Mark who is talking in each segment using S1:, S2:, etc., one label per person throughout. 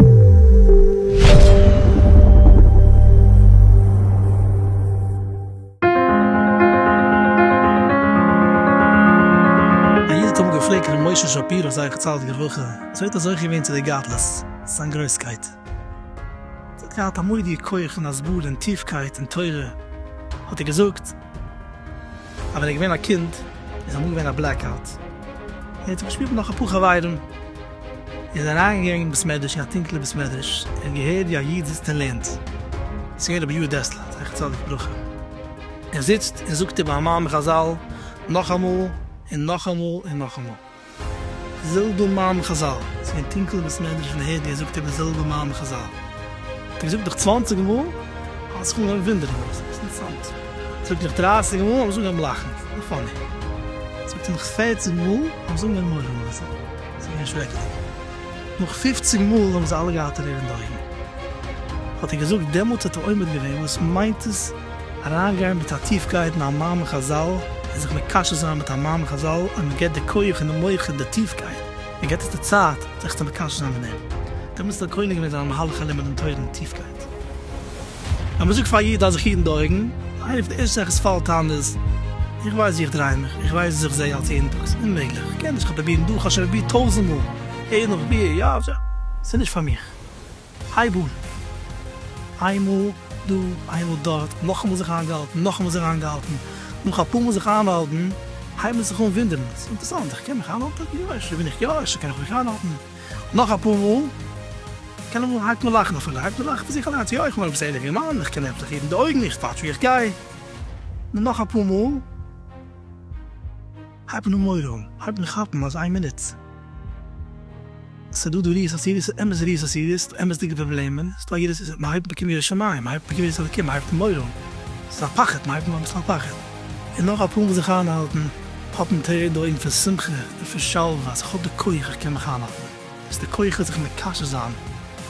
S1: א איד האט אמאל געפרעגט ר' משה שפירא זצל די גרויכע צווייטע זוכה געווען צו די גדלות, זיין גרויסקייט. זי האט געהאט א מודיע כח און הסברה און טיפקייט אין תורה, האט ער געזאגט. אז ווען ער איז געווען א קינד איז אמאל געווען א בלעק אוט און ער האט זיך געשפירט מיט נאך אפאר חברים איז ער אריין געגאנגען אין בית מדרש אין א טונקעלע בית מדרש ער האט געהערט ווי א איד זיצט און לערנט עס איז געווען רבי יואל דעסלער זכר צדיק לברכה ער זיצט און זאגט איבער א מאמר חזל נאכאמאל און נאכאמאל און נאכאמאל. זילבער מאן חזל, ס'איז געווען טונקל בית מדרש און הערט ווי ער זאגט איבער זילבער מאן חזל, האט ער געזאגט נאך צוואנציג מאל האט זיך אנגעהויבן וואונדערן וואס איז אינטערסאנט, זאגט נאך דרייסיג מאל האט זיך אנגעהויבן לאכן וואס איז פאני, זאגט ער נאך פערציג מאל האבן זיך אנגעהויבן מורא מאכן וואס איז געווען שרעקעדיג, נאך פופציג מאל האבן זיי אלע געהאט טרער אין די אויגן, האט ער געזאגט דעמאלטס האט ער עומד געווען וואס מיינט עס? אריינגיין מיט א טיפקייט אין א מאמר חזל און זיך מקשר זיין מיט א מאמר חזל אז מען געבט די כח און די מח און די טיפקייט, מען געבט עס די צייט זיך צו מקשר זיין מיט דעם. דעמאלטס האט ער קונה געווען זיין מהלך הלימוד און תורה אין טיפקייט. ווען מען זאגט פאר א איד אז זיך היטן די אויגן, איינע פון די ערשטע זאכן וואס פאלט איין איז, איך ווייס ווי איך דריי מיך, איך ווייס וואס איך זעה אלס יעדן טאג, ס'איז אוממעגליך, איך קען נישט, איך האב פרובירט דא, איך האב שוין פרובירט טויזנט מאל, עיין עורך ביה, יא, ס'איז נישט פאר מיך. הייב אן! איינמאל דא, איינמאל דארט, נאכאמאל זיך איינגעהאלטן, נאכאמאל זיך איינגעהאלטן, נאך אפאר מאל זיך איינהאלטן, הייבן מיר זיך אן ווינדערן, ס'איז אינטערסאנט, איך קען מיך איינהאלטן? יא, אפשר בין איך יא, אפשר קען איך מיך איינהאלטן? נאך אפאר מאל, קיינמאל הייבט מען לאכן אויף, הייבט מען לאכן פון זיך אליינס, יא, איך בין עפעס א ערליכער מאן, איך קען עמטליך היטן די אויגן, איך וואטש ווי איך גיי, נאך אפאר מאל. הייב נאר מורא אן, הייב מיר כאפן אז איין מינוט ס'דא דא ריאות אסירות, ס'איז אמת ריאות אסירות, ס'דא אמת'דיגע פראבלעמען, ס'איז דא א יראת ישראל, מ'הייבט מקום ירא שמים, מ'הייבט מקום יראת אלקים, מ'הייבט מורא אן, ס'איז א פחד, מ'הייבט אן אביסל א פחד, און נאך א פארמאל זיך איינהאלטן, האפן טרערן די אויגן פון שמחה און פון שלווה אז איך האב די כח, איך קען מיך איינהאלטן, ס'איז די כח זיך מקשר זיין,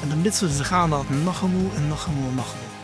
S1: און די מצוה פון זיך איינהאלטן נאכאמאל און נאכאמאל און נאכאמאל.